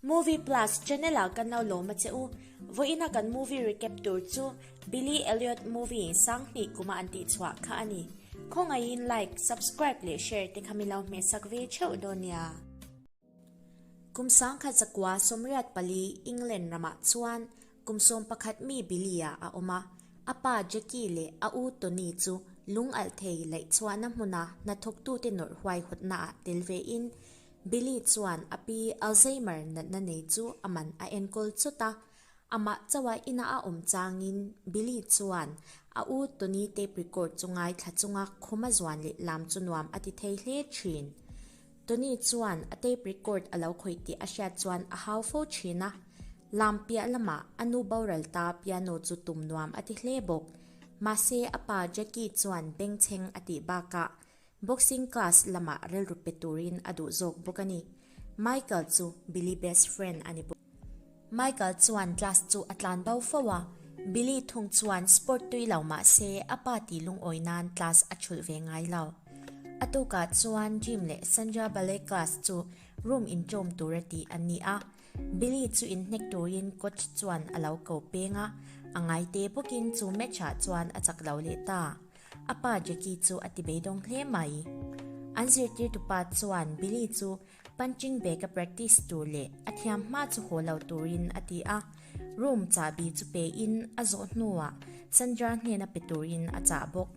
Movie Plus channel ah kan lo lawm a che u. Vawiina kan movie recap tur chu Billy Elliot Movie Sanghnih Kuma an tih chhuah kha a ni. Khawngaihin like, subscribe leh share te kha milo hmehsak ve theuh dawn nia. Kum sangkhat zakua sawmriat pali England ramah chuan kum sawm pakhat mi Billy ah a awm a, a pa Jackie leh a u Tony chu lungalh thei laihchhuahna hmuna hnathawktute nawrh huaihawtnaah tel vein Billy chuan a pi Alzheimer natna nei chu a man a enkawl chawt a. Amah chauha inah a awm changin Billy chuan a u Tony tape record chu ngai thla chunga khuma zuan leh lam chu nuam a ti thei hle thin. Tony chuan a tape record a lo khawih tih a hriat chuan a hau fo thin a. Lam piah lamah a nu boral ta piano chu tum nuam a ti hle bawk. Mahse a pa Jackie chuan bengchheng a tih bakah Boxing class lamah rilru pe turin a duh zawk bawk a ni. Michael chu Billy best friend a ni bawk. Michael chuan class chu a tlan bau fo a, Billy thung chuan sport tui lo mah se a pa tih lungawi nan class a chhulh ve ngai lo. A tukah chuan Jim leh Sandra ballet class chu room in tlawm tur a ti an ni a, Billy chu in hnek turin coach chuan a lo ko peng a, a ngaite bawkin chu match ah chuan a chak lo leh ta. A pa Jacky chu a ti beidawng hle mai. An zirtirtu pa chuan Billy chu punching bag a practice tur leh a thiam hma chu haw lo turin a ti a, room chahbi chu pe in a zawh hnuah Sandra hnena pe turin a chah bawk.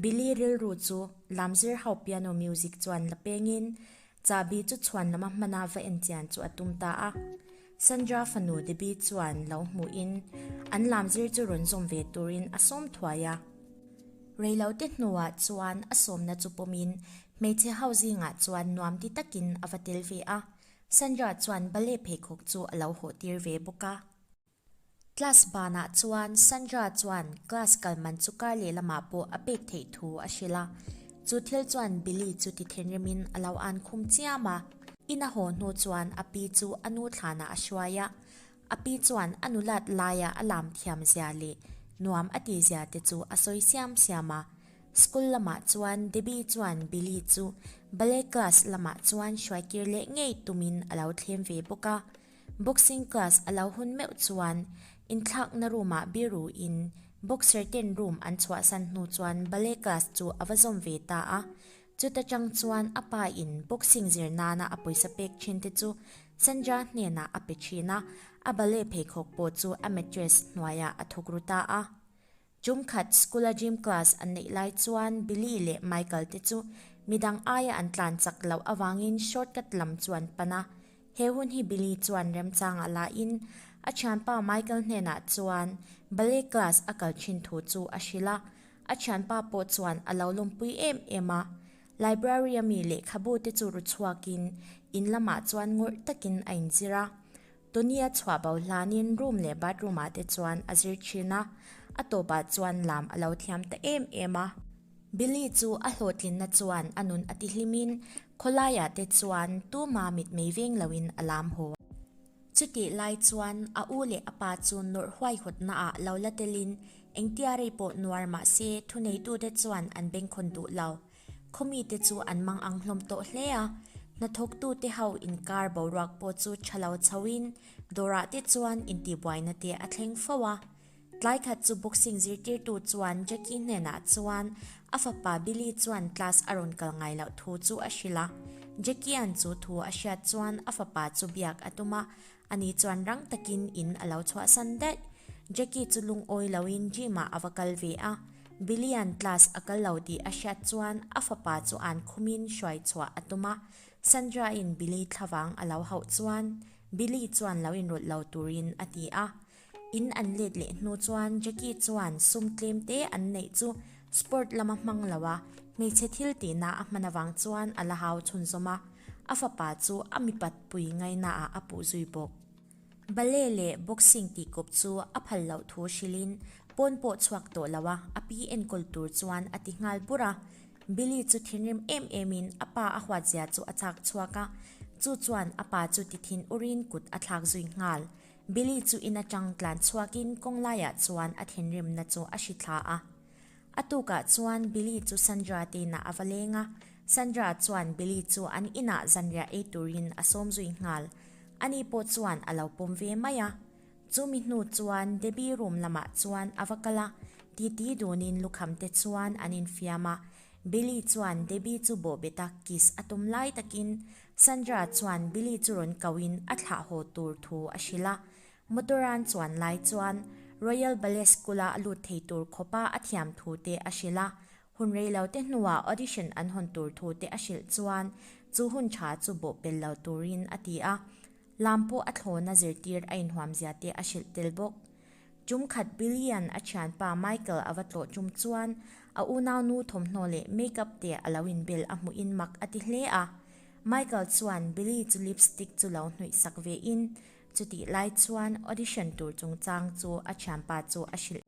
Billy rilru chu lam zir ho piano music chuan la pengin chahbi chu chhuan lama hmana va en chian chu a tum ta a. Sandra fanu Debbie chuan lo hmuh in an lam zir chu rawn zawm ve tur in a sawm thuai a. Rei lo te hnu ah chuan a sawmna chu pawm in hmeichhe ho zing ah chuan nuam ti tak in a va tel ve a. Sandra chuan bale pheikhawk chu a lo hawhtir ve bawk a. Class banah chuan Sandra chuan class kal man chu kar lehlamah pawh a pek theih thu a hrilh a, chu thil chuan Billy chu ti thinrimin a lo an khum chiam a. In a haw hnu chuan a pi chu a nu thlanah a hruai a, a pi chuan a nulat laiah a lam thiam zia leh nuam a ti zia te chu a sawi siam siam a. School lamah chuan Debbie chuan Billy chu ballet class lamah chuan hruaikir leh ngei tumin a lo thlem ve bawk a. Boxing class a lo hun meuh chuan inthlakna room ah biru in boxer ten room an chhuahsan hnu chuan ballet class chu a va zawm ve ta a. Chuta tang chuan a pa in boxing zir nana a pawisa pek thin te chu Sandra hnenah a pe thin a, a ballet pheikhawk pawh chu amateur's hnuaiah a thawk ru ta a. Chum khat School-a Gym Class an neih lai chuan Billy leh Michael te chu midang aia an tlan chak loh avangin shortcut lam chu an pan a. He hun hi Billy chuan remchangah lahin a thianpa Michael hnenah chuan Ballet Class a kal thin thu chu a hrilh a, a thianpa pawh chuan a lo lawmpui em em a. Library-a mi lehkhabu te chu ru chhuakin in lamah chuan ngawrh takin a inzir a. Tony-a chhuah bo hlanin room leh bathroom-ah te chuan a zir thin a, a tawpah chuan lam a lo thiam ta em em a. Billy chu a hlawhtlinna chuan a nun a ti hlimin khawlaiah te chuan tuma mitmei veng loin a lam haw a. Chutih lai chuan a u leh a pa chu nawrh huaihawtnaah lo la telin engtia rei pawh nuar mahse thuneitute chuan an bengkhawn duh lo. Khawmi te chu an mang ang hlawm tawh hle a, hnathawktu te ho inkar boruak pawh chu tha lo chho in dawrah te chuan intihbuaina te a thleng fo a. Tlai khat chu boxing zirtirtu chuan Jacky hnenah chuan a fapa Billy chuan class a rawn kal ngai loh thu chu a hrilh a. Jacky-a'n chu thu a hriat chuan a fapa chu biak a tum a, Ani chuan rang takin in alo chhuahsan daih. Jackie chu lungawi loin gym-ah ava kal ve a. Billy-a'n class a kal lo tih a hriat chuan a fapa chu an khumin hruai chhuah a tum a. Sandra-in Billy thlavang alo hauh chuan Billy chuan lo inrawlh lo turin a ti a. In an let leh hnu chuan Jackie chuan sum tlem te an neih chu sport lama hmang lo a, hmeichhe thil tihna a hman avang chuan a la hau chhunzawm a, a fapa chu a mipat pui ngainaah a puh zui bawk. Ballet leh boxing tih kawp chu a phal loh thu hrilhin pawn pawh chhuak tawh lo a, a pi enkawl tur chuan a ti nghal bur a. Billy chu thinrim em emin a pa a huatzia chu a chak chhuak a, chu chuan a pa chu tithin urin kut a thlak zui nghal. Billy chu in atang tlan chhuakin kawng laiah chuan a thinrimna chu a hri thla a. A tukah chuan Billy chu Sandra teina a va leng a, Sandra chuan Billy chu an inah zanriah ei turin a sawm zui nghal. Ani pawh chuan a lo pawm ve mai a. Chumi hnu chuan Debbie room lamah chuan a va kal a, titi dunin lukham te chuan an infiam a. Billy chuan Debbie chu bawhbetah kiss a tum lai takin Sandra chuan Billy chu rawn kau in a thlah haw tur thu a hrilh a. Motor an chuan lai chuan Royal Ballet School a a lut thei tur khawpa a thiam thu te a hrilh a. Hun rei lo te hnuah audition an hawn tur thu te a hrilh chuan chu hun tha chu bawhpel lo turin a ti a. Lam pawh a thlawn a zirtir a inhuamzia te a hrilh tel bawk. Tum khat Billy-a'n a thianpa Michael a va tlawh tum chuan a unau nu thawmhnaw leh makeup te a lo inbel a hmuhin mak a ti hle a. Michael chuan Billy chu lipstick chu lo hnuihsak vein chutih lai chuan audition tur chungchang chu a thianpa chu a hrilh.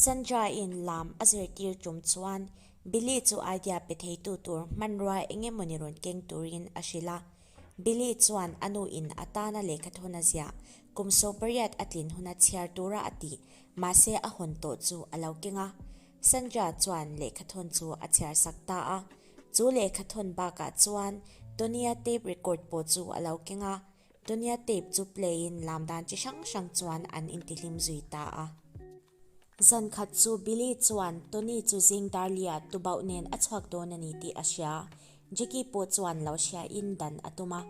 Sandra-in lam a zirtir tum chuan Billy chu idea pe theitu tur hmanrua engemawni rawn keng turin a hrilh a. Billy chuan a nu in a tana lehkha thawn a zia. Kum saw pariat a tlin hun a chhiar tura a ti, mahse a hawn tawh chu a lo keng a. Sandra chuan lehkha thawn chu a chhiar sak ta a. Chu lehkha thawn bakah chuan Tony-a tape record pawh chu a lo keng a. Tony-a tape chu play in lam dan chi hrang hrang chuan an intihlim zui ta a. Zan khat chu Billy chuan Tony chu zing dar lia tubauh nen a chhuak dawn a ni tih a hria. Jackie pawh chuan lo hria in dan a tum a.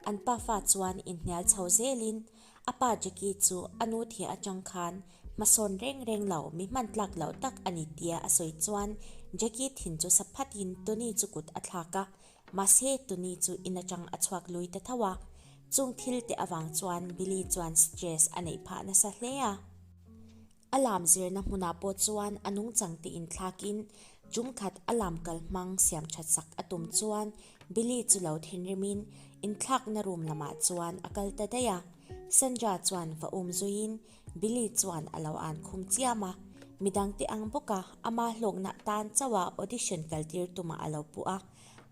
An pa fa chuan inhnial chho zel in, A pa Jackie chu a nu thih atang khan hmasawn reng reng lo, mi hman tlak loh tak a ni tia a sawi chuan Jackie thin chu sa phat in Tony chu kut a thlak a. Mahse, tuni chu in atang a chhuak lui ta tho a, chung thil te avang chuan Billy chuan stress a neih phah nasa hle a. A lam zirna hmunah pawh chuan a nungchang te inthlakin chung khat a lam kal hmang siam that sak a tum chuan Billy chu lo thinrimin inthlakna room lamah chuan a kal ta daih a. Sandra chuan va um zuiin Billy chuan a lo an khum chiam a, midang teh ang bawk a, amah hlawknah tan chauh a audition kal tir tumah a lo puh a,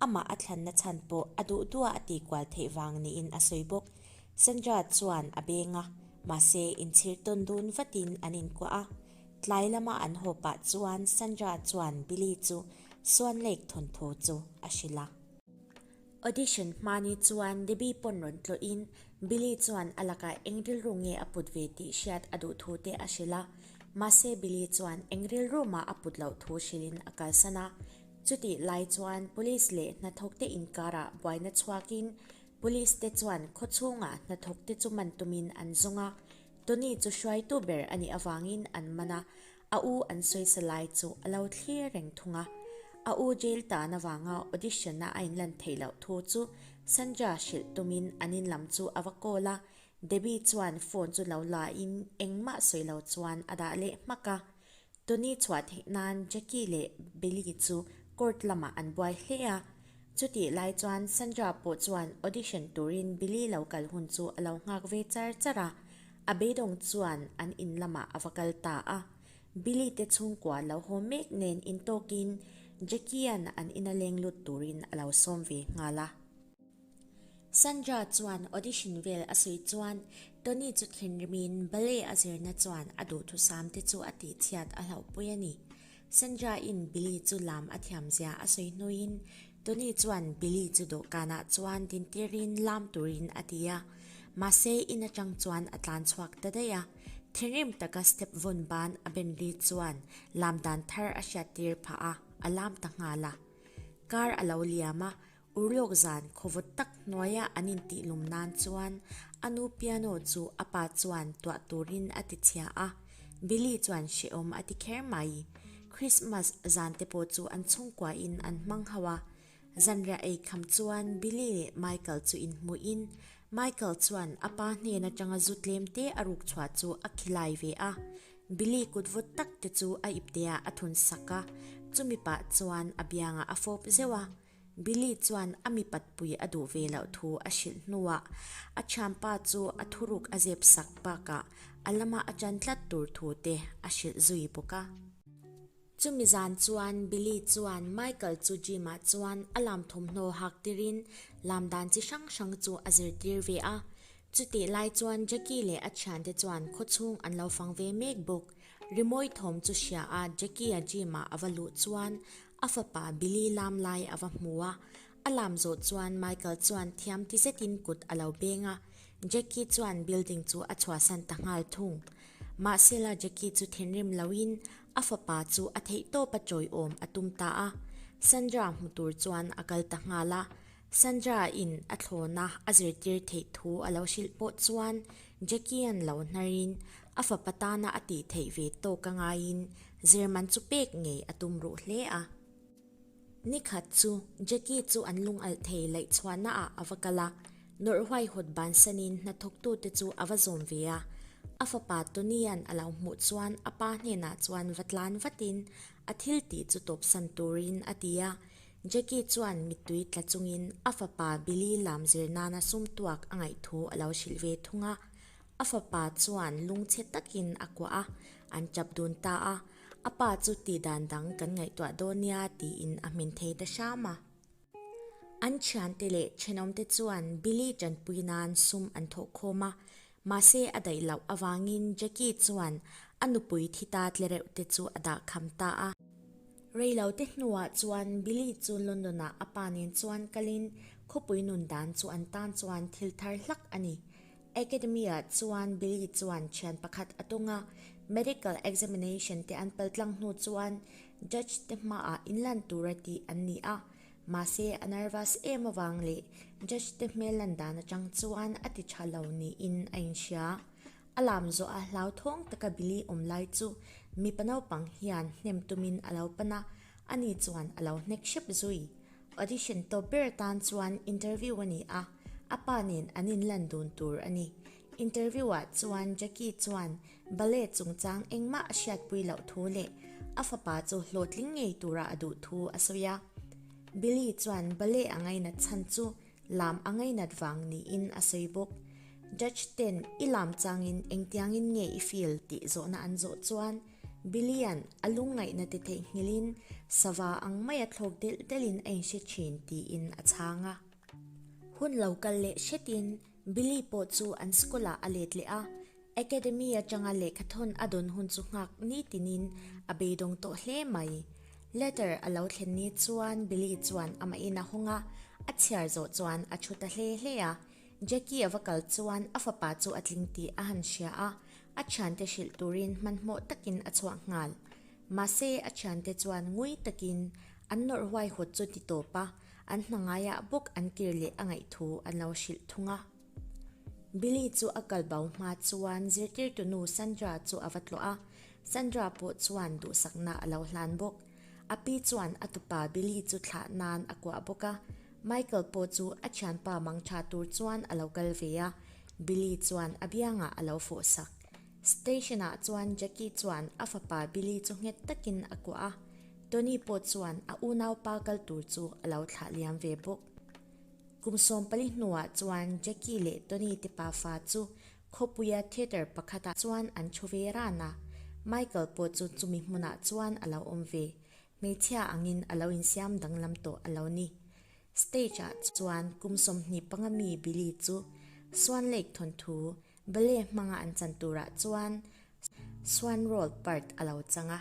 amah a thlanna chhan pawh a duh duah a ti kual theih vang niin a sawi bawk. Sandra chuan a beng a, mahse in chhir tawn dun vatin an inkuah a. Tlai lama an haw pah chuan Sandra chuan Billy chu suan lek thawnthu chu a hrilh a. Audition hma ni chuan Debbie pawn rawn tlawhin Billy chuan a lakah eng rilru nge a put ve tih hriat a duh thu te a hrilh a. Mahse Billy chuan eng rilru mah a put loh thu hrilhin a kalsan a. Chutih lai chuan Police leh hnathawk te inkarah buaina chhuakin Police te chuan khaw chhunga hnathawk te chu man tumin an zawng a. Tony chu hruaitu ber a nih avangin an man a. A u an sawisa lai chu a lo thlir reng thung a. A u jail tahna vanga audition-a a inlan theih loh thu chu Sandra hrilh tumin an in lam chu a va call a. Debbie chuan phone chu lo lain engmah sawi lo chuan a dah leh hmak a. Tony chhuah theih nan Jackie leh Billy chu court lamah an buai hle a. Chutih lai chuan Sandra pawh chuan audition turin Billy lo kal hun chu a lo nghak ve char char a. A beidawng chuan an in lamah a va kal ta a, Billy te chhungkua an lo haw mek nen in tawkin Jackie-a'n an in a leng lut turin a lo sawm ve nghal a. Sandra chuan audition vel a sawi chuan Tony chu thinrim in ballet a zirna chuan a duhthusam te chu a tihchhiat a hlauhpui a ni. Sandra-in Billy chu lam a thiam zia a sawi hnuin, Tony chuan Billy chu dawhkanah chuan tintirin lam turin a ti a. Mahse, in atang chuan a tlan chhuak ta daih a. Thinrim taka step vun ban a ben ri chuan lam dan thar a hriat tir phah a, a lam ta nghal a. Kar a lo liam a, U Lok Zan khawvut tak hnuaia an intihlum nan chuan a nu Piano chu a pa chuan tuah turin a tichhia a, Billy chuan hrehawm a ti kher mai. Christmas zan te pawh chu an chhungkuain an hmang hauh a. Zanriah ei kham chuan Billy leh Michael chu inhmuhin Michael chuan a pa hnen atanga zu tlem te a ruk chhuah chu a khi lai ve a. Billy kut vut tak te chu a ipteah a thun sak a, chumi pah chuan a biangah a fawp zeuh a. Billy chuan a mi patpui a duh ve loh thu a hrilh hnuah a thianpa chu a thuruk a zep sak bakah a lama a tan tlat tur thu te a hrilh zui bawk a. Chumi zan chuan Billy chuan Michael chu gym-ah chuan a lam thawmhnaw hak tirin lam dan chi hrang hrang chu a zirtir ve a. Chutih lai chuan Jackie leh a thiante chuan khawchhung an lo fang ve mek bawk. Rimawi thawm chu hria a, Jackie-a gym-ah a va luh chuan A fapa Billy lam lai a va hmu a, a lam zawh chuan Michael chuan thiam ti zetin kut a lo beng a. Jackie chuan building chu a chhuahsan ta nghal thung. Mahsela Jackie chu thinrim loin a fapa chu a theih tawpa chawiawm a tum ta a. Sandra hmu tur chuan a kal ta nghal a, Sandra in a thlawna a zirtir theih thu a lo hrilh pawh chuan Jackie-a'n lo hnarin a fapa tana a tih theih ve tawk a ngaiin zir man chu pek ngei a tum ruh hle a. Ni khat chu Jackie chu an lungalh thei laih chhuahna ah a va kal a, nawrh huaihawt bansanin hnathawk tu te chu a va zawm ve a. A fapa Tony-a'n a lo hmuh chuan a pa hnenah chuan va tlan vatin A thil tih chu tawpsan turin a ti a, Jackie chuan mittui tla chungin a fapa Billy lam zir nana sumtuak a ngaih thu a lo hrilh ve thung a. A fapa chuan lung chhe takin a kuah a, an tap dun ta a, a pa chu tih dan dang kan ngaihtuah dawn nia tiin a hmin thei ta hram a. An thiante leh thenawmte chuan Billy tanpui nan sum an thawh khawm a, mahse a daih loh avangin Jackie chuan a nupui thi ta tlereuh te chu a dah kham ta a. Rei lo te hnuah chuan Billy chu London ah a pa nen chuan kalin khawpui nun dan chu an tan chuan thil thar hlak a ni. Academy ah chuan Billy chuan thian pakhat a tung a, medical examination te an pel tlang hnu chuan Judge te hmaah inlan tur a tih an ni a, mahse a nervous em avang leh Judge te hmel lan dan atang chuan a ti tha lo niin a inhria. A lam zawh a, hlau thawng taka Billy awm lai chu mipa naupang hian hnem tumin a lo pan a, ani chuan a lo hnek hrep zui. Audition tawp ber tan chuan interview a ni a, a pa nen an inlan dun tur a ni. Interview ah chuan Jackie chuan ballet chungchang engmah a hriatpui loh thu leh a fapa chu hlawhtling ngei tura a duh thu a sawi a. Billy chuan ballet a ngainat chhan chu lam a ngainat vang niin a sawi bawk. Judge ten i lam changin engtiangin nge i feel tih zawhna an zawh chuan Billy-a'n a lungngaihna ti theih nghilhin sava ang maia thlawk delh delhin a inhre thin tiin a chhang a. Hun lo kal leh hretin. Billy pawh chu an school-ah a let leh a, Academy atanga lehkhathawn a dawn hun chu nghak nitinin a beidawng tawh hle mai. Letter a lo thlen ni chuan Billy chuan amah in a hawng a, a chhiar zawh chuan a thu ta hle hle a. Jackie a va kal chuan a fapa chu a tling tih a han hria a, a thiante hrilh turin hmanhmawh takin a chhuah nghal. Mahse a thiante chuan ngui takin an nawrh huai hawt chu ti tawp a, An hnangaiah bawk an kir leh a ngaihthu an lo hrilh thung a. Billy chu a kal bau hma chuan zirtirtu nu Sandra chu a va tlawh a. Sandra pawh chuan duhsakna a lo hlan bawk. A pi chuan a tupa Billy chu thlah nan a kuah bawk a. Michael pawh chu a thianpa mangṭha tur chuan a lo kal ve a. Billy chuan a biangah a lo fawhsak. Station ah chuan Jackie chuan a fapa Billy chu nghet takin a kuah a, Tony pawh chuan a unaupa kal tur chu a lo thlah liam ve bawk. Kum sawm pali hnuah chuan Jackie leh Tony tipa fa chu khawpuia theatre pakhatah chuan an thu ve ran a, Michael pawh chu chumi hmunah chuan a lo awm ve, hmeichhia angin a lo insiam danglam tawh a lo ni. Stage ah chuan kum sawmhnih panga mi Billy chu Suanlake thawnthu, Ballet hmanga an chan turah chuan Suan role part a lo chang a.